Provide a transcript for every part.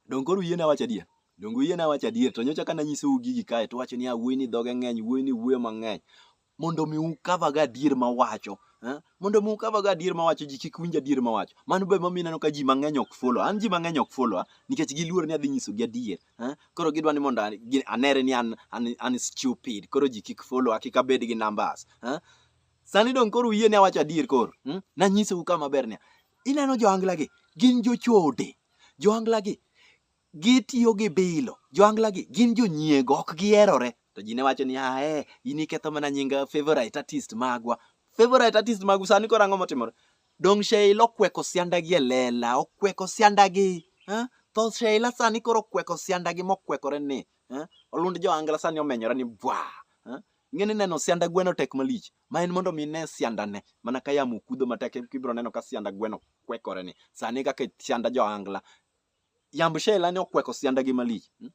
Donge koro uyiena awacho adier? Donge uyiena awacho adier? To nyocha kane anyisou gigi kae to uwacho ni wuoyini dhoge ng'eny, wuoyini wuoyo mang'eny. Mondo mi ukava go adier mawacho. eh? Mondo mi ukava go adier mawacho ji kik winj adier mawacho. Mano be emomiyo ineno ka ji mang'eny ok follow. An ji mang'eny ok follow nikech giluor ni adhi nyisogi adier. eh? Koro gidwa ni mondo an- gi- anere ni an, an, an stupid. Koro ji kik follow, kik abed gi numbers. eh? Sani dong koro uyie ni awacho adier koro. Hmm? Nanyisou ka maber niya. Ineno johangla gi gin jochode. Johangla gi gitiyo gi bilo. Johangla gi gin jonyiego ok giherore. To ji ne wacho ni ah eh in iketho mana nying favorite artist magwa. Favorite artist magu sani koro ang'o motimore? Dong Sheila okweko sianda gi e lela, okweko sianda gi. Eh? Tho Sheila sani koro okweko sianda gi mokwekore ni. Eh? Olund johangla sani omenyore ni bwa. Eh? Ing'e ni neno sianda gweno tek malich, ma en mondo mi ine siandane mana ka yamo kudho matek eka ibiro neno ka sianda gweno kwekore ni. Sani kaka sianda johangla, yamb Sheila ne okweko siandagi malich. Hmm?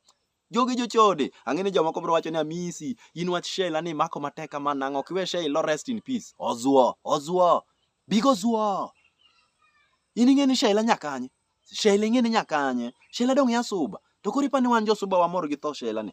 Jogi jochode, ang'e ni jomoko biro wacho ni Amisi, in wach Sheila ni imako matek kama nang'o, ok iwe Sheila rest in peace. Ozuo, ozuo, bigo zuo. In ing'e ni Sheila nyakanye, Sheila ing'e ni nyakanye, Sheila dong' yasuba. To koro ipani wan josuba wamor gi tho Sheila ni.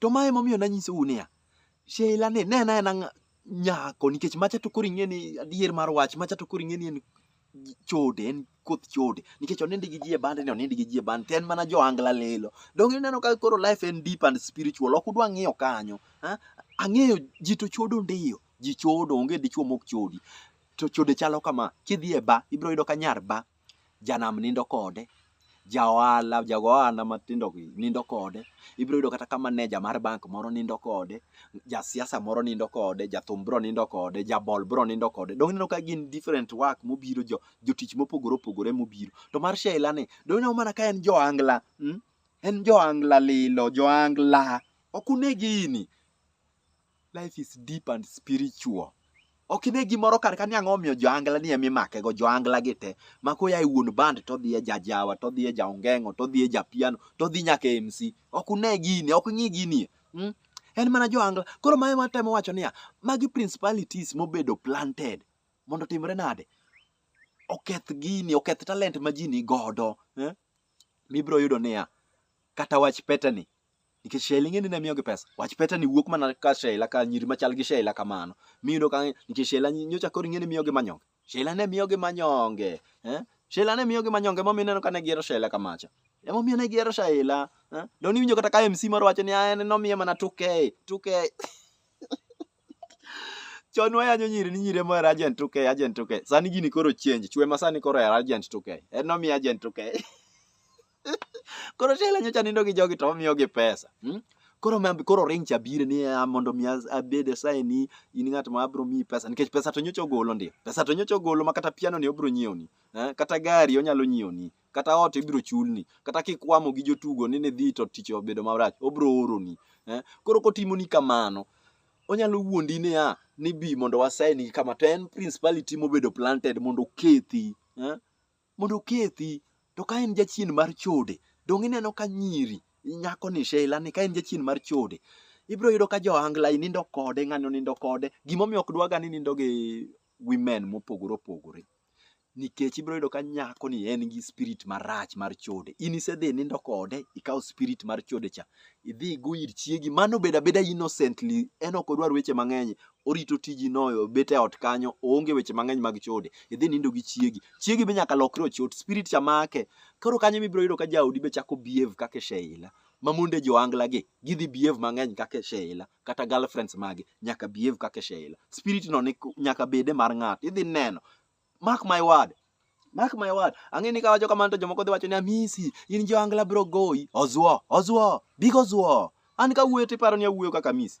To ma emomiyo nanyisou niya, Sheila ni ne na en nyako nikech macha to koro ing'e ni adier mar wach macha to koro ing'e ni en chode en koth chode nikech onindi gi ji e bande ni onindi gi ji e bande en mana joangla lelo donge ineno ka koro life en deep and spiritual ok udwa ng'iyo kanyo ang'eyo ji to chodo ndiyo ji chodo onge dichuo mok chodi to chode chalo kama kidhi e ba ibiro yudo ka nyar ba janam nindo kode, ja ohala, ja ohala matindo gi nindo kode. Ibiro yudo kata ka maneja mar bank moro nindo kode, ja siasa moro nindo kode, ja thum bro nindo kode, ja bol bro nindo kode. Donge ineno ka gin different work mobiro jo jotich mopogore opogore mobiro. To mar Sheila ni, donge ineno mana ka en jo angla, mm? En jo angla lilo, jo angla. Ok unegi ini. Life is deep and spiritual. Ok ine gimoro kar ka ni ang'o omiyo joangla ni ema imakego joangla gi te ma koya e wuon band to dhi e jajawa to dhi e jaongeng'o to dhi e japiano to dhi nyaka e MC. Ok une gini, ok ng'i gini. Mm? En mana joangla. Koro ma ema temo wacho niya, magi principalities mobedo planted. Mondo timre nade? Oketh gini, oketh talent ma ji ni godo. Eh? Mibro yudo niya, kata wach petani nikech Sheila ing'e ni ne miyogi pesa wach peta ni wuok mana ka Sheila ka nyiri machal gi Sheila kamano miyudo ka nikech Sheila nyi- nyocha koro ing'e ni miyogi manyonge Sheila ne miyogi manyonge eh? Sheila ne miyogi manyonge emomiyo ineno ka ne gihero Sheila kamacha emomiyo ne gihero Sheila eh? Don iwinjo kata ka MC moro wacho ni "Ah, en nomiye mana 2K 2K chon wayanyo nyiri ni nyiri emohero agent 2K agent 2K sani gini koro change chwe ma sani koro hero agent 2K en nomiye agent 2K koro shela nyocha nindo gi jogi to omiyo gi pesa hmm? koro mambi koro ring cha bire ni ah, mondo mi as- abed asaye ni in ng'at ma abro miyi pesa nikech pesa to nyocha ogolo ndi pesa to nyocha ogolo ma kata piano ni obro nyiewni eh? kata gari onyalo nyiewni kata ot ibro chulni kata kikwamo gi jotugo ni nidhi to tich obedo marach obro oroni eh? koro kotimoni kamano onyalo wuondi niya ni bi mondo wasaini kama to en principality mobedo planted mondo okethi eh? mondo okethi. To ka en jachien mar chode, donge ineno ka nyiri nyako ni Sheila ni ka en jachien mar chode, ibiro yudo ka johangla i nindo kode, ng'ani onindo kode. Gimomiyo ok dwaga ni nindo gi women mopogore opogore. Nikech ibiro yudo ka nyako ni en gi spirit marach mar chode. In isedhi nindo kode, ikawo spirit mar chode cha, idhi igo ir chiegi. Mano obedo abeda innocently, en ok odwar weche mang'eny. orito tiji noyo obet e ot kanyo oonge weche mang'eny mag chode idhi nindo gi chiegi chiegi be nyaka lokre ochot spirit cha make koro kanyo mibiro yudo ka jaodi be chako behave kaka e sheila ma monde joangla gi gidhi behave mang'eny kaka e sheila kata girlfriends magi nyaka behave kaka e sheila spirit no ni nyaka bede mar ng'ato idhi neno mark my word mark my word ang'e ni kawacho kamano to jomoko dhi wacho ni amisi in joangla biro goyi ozuo ozuo big ozuo an kawuoyo tiparo ni awuoyo kaka amisi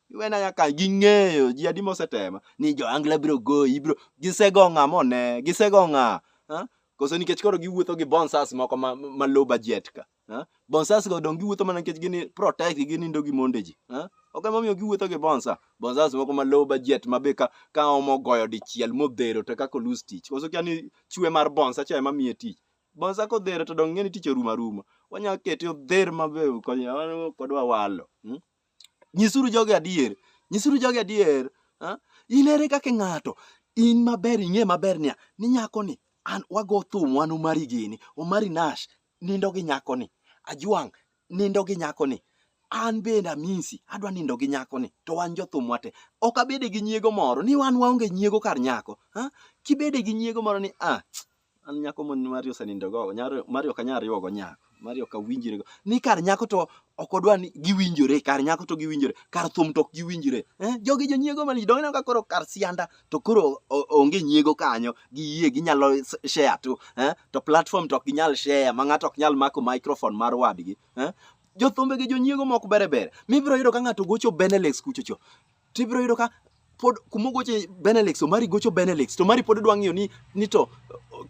iwena nyaka ging'eyo ji adi mosetema ni jo angla biro goyi biro gisego ng'a mone gisego ng'a koso nikech koro giwuotho gi bonsas moko ma, ma low budget ka bonsas go dong giwuotho mana nikech gini protect ginindo gi monde ji ok emomiyo giwuotho gi bonsa bonsas moko ma low budget ma be ka, ka omo goyo dichiel modhero to kaka olus tich koso kia ni chwe mar bonsa cha ema miye tich bonsa kodhero to dong ng'e ni tich orumo aruma wanyalo kete odher mabe kodwa walo hmm? Nyisuru jogi adier. Nyisuru jogi adier. Ha? In ere kaka ng'ato in maber ing'e maber niya ni nyakoni an wago thum wan Omari gini. Omari Nash nindo gi nyakoni. Ajwang' nindo gi nyakoni. An bende Amisi adwa nindo gi nyakoni to wan jothum wate. Ok abede gi nyiego moro ni wan waonge nyiego kar nyako. Ha? Kibede gi nyiego moro ni ah an nyako mon mari osenindo go nyaro- mari ok anyal riwogo nyako mari ok awinjrego ni kar nyako to ok odwa ni giwinjore kar nyako to giwinjore kar thum to ok giwinjore eh? jogi jonyiego mali donge ineno ka koro kar sianda to koro o- onge nyiego kanyo giyie ginyalo s- share tu eh? to platform to ok ginyal share ma ng'ato ok nyal mako microphone mar wadgi eh? jothumbe gi jonyiego mok bere bere mibiro yudo ka ng'ato gocho benelex kuchocho to ibiro yudo ka pod kuma ogoche Benelix, Omari gocho Benelix, to Omari pod dwa ng'iyo ni, ni to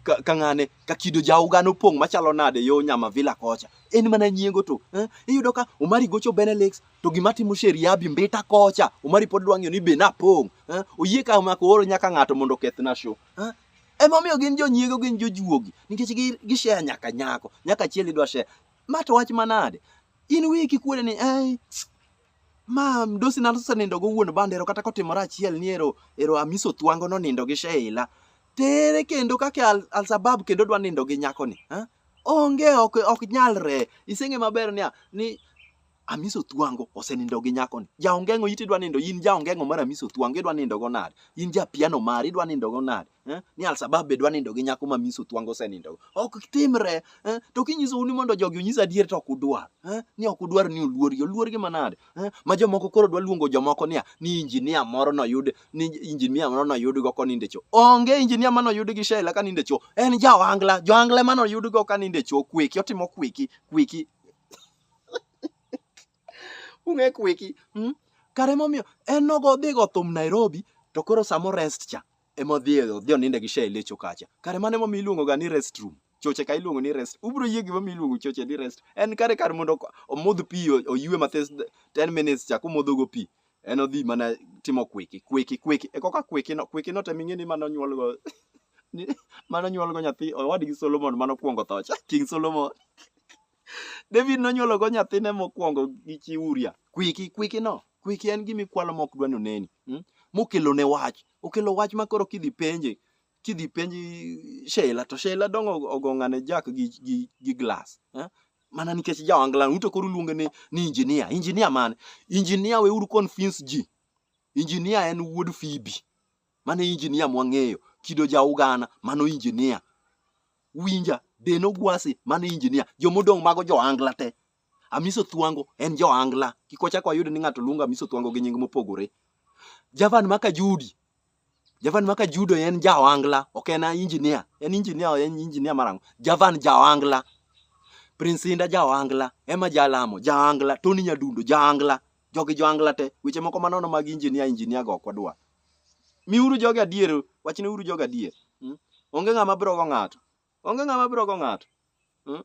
ka ng'ane ka kido jauga nopong' machalo nade yo nyama vila kocha en mana nyiego to eh? iyudo ka omari gocho benelix to gima timo sheriabi mbita kocha omari pod dwang'yo ni be napong' eh? oyie ka mako oro nyaka ng'ato mondo okethna show eh? emomiyo gin jonyiego gin jojuogi nikech gisheya nyaka nyako nyaka chiel idwa sheya ma to wach manade in wiyi kikwere ni eh, ma mdosi na osenindo go wuon bandero kata kotimore achiel ni ero ero amiso thwango nonindo gi sheila tere kendo kake al, alsabab kendo dwa nindo gi nyako ni ha? onge ok, ok nyalre iseng'e maber niya ni amiso thwango osenindo gi nyako ni jaongeng'o iti dwa nindo in jaongeng'o mar amiso thwango idwa nindo go nade in japiano mari idwa nindo go nade eh, ni alsabab be dwa nindo gi nyako ma miss otwango osenindogo ok timre eh, to kinyisou ni mondo jogi onyis adier to ok udwar eh, ni ok udwar ni oluorgi oluorgi manade eh, ma jomoko koro dwa luongo jomoko niya ni injinia moro noyud ni injinia moro noyudgo konindecho onge injinia ma noyud gi shela kanindecho en jaoangla joangla ma noyudgo kanindecho kweki otimo kweki kweki Ung'e kweki. Hmm? Kare momiyo en nogo dhi go thum Nairobi to koro samo rest cha ema odhi odhi oninde gi shei lecho kacha. Kare mane momiyo iluongo ga ni rest room. Choche ka iluongo ni rest. Ubro yie gima mi iluongo choche ni rest. En kare kar mondo ok- omodh pi o- oyue mathis 10 minutes cha kumodho go pi. En odhi mana timo kweki kweki kweki. E koka kweki no kweki no tem ing'e ni mano nyuol go ni mano nyuol go nyathi owadgi Solomon mano kwongo tho cha. King Solomon. David nonyuologo nyathine mokwongo gi chi Uria. Kwiki, kwiki no. Kwiki en gima ikwalo ma ok dwa ni oneni. Mm? Mokelo ne wach. Okelo wach ma koro kidhi penje. Kidhi penji Sheila to Sheila dong' og- ogong'ane jak gi, gi, gi glass. Eh? Mana nikech jawangla uto koro uluonge ni, ni injinia. Injinia mane? Injinia weuru convince ji. Injinia en wuod Phoebe. Mano e injinia mwang'eyo. Kido Jaugana, mano injinia. Winja, Deno Gwasi, mano injinia. Jomodong' mago Joangla te. Amiso Thwango en Joangla. Kik wachak wayud ni ng'ato luongo Amiso Thwango gi nying mopogore. Javan Maka Judi, Javan Maka Judo en Jaoangla, ok en injinia. En injinia, en injinia marang'o. Javan Jaoangla. Prince Inda Jaoangla, Emma Jalamo Jaoangla, Tony Nyadundo Jaoangla. Jogi Joangla te. Weche moko manono mag injinia, injinia go ok wadwar. Miuru jogi adier, wachneuru jogi adier. Mm. Onge ng'ama biro go ng'ato. Onge ng'ama biro go ng'ato. Mm.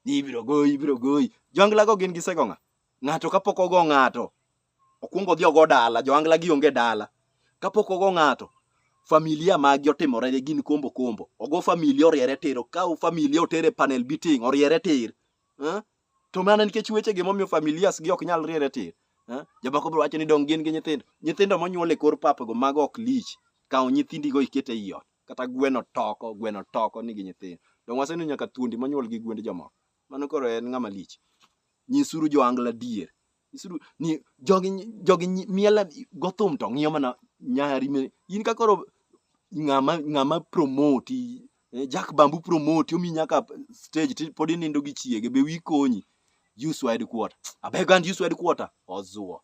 Ni ibiro goyi, ibiro goyi. Joangla go gin gisego ng'a? Ng'ato kapok ogo ng'ato, okwongo odhi ogo dala, joangla gi onge dala. Kapok ogo ng'ato, familia magi otimore ne gin kombo kombo. Ogo familia oriere tir, okaw familia otere panel beating, oriere tir. Mm. to mana nikech wechegi momiyo familias gi ok nyal riere tir eh? jomoko biro wacho ni dong gin gi nyithindo nyithindo monyuol e kor papgo mago ok lich kawo nyithindigo iket e iot kata gweno toko gweno toko nigi nyithindo dong waseneno nyaka thuondi monyuol gi gwend jomoko mano koro en ng'ama lich nyisuru joangla dier Isuru ni jogi jogi nyi- miela gothum to ng'iyo mana nyari me in ka koro ng'ama ng'ama promote eh, Jack Bambu promote omi nyaka stage ti pod inindo gi chiege be wi konyi use wide quarter abeg and use wide quarter ozuo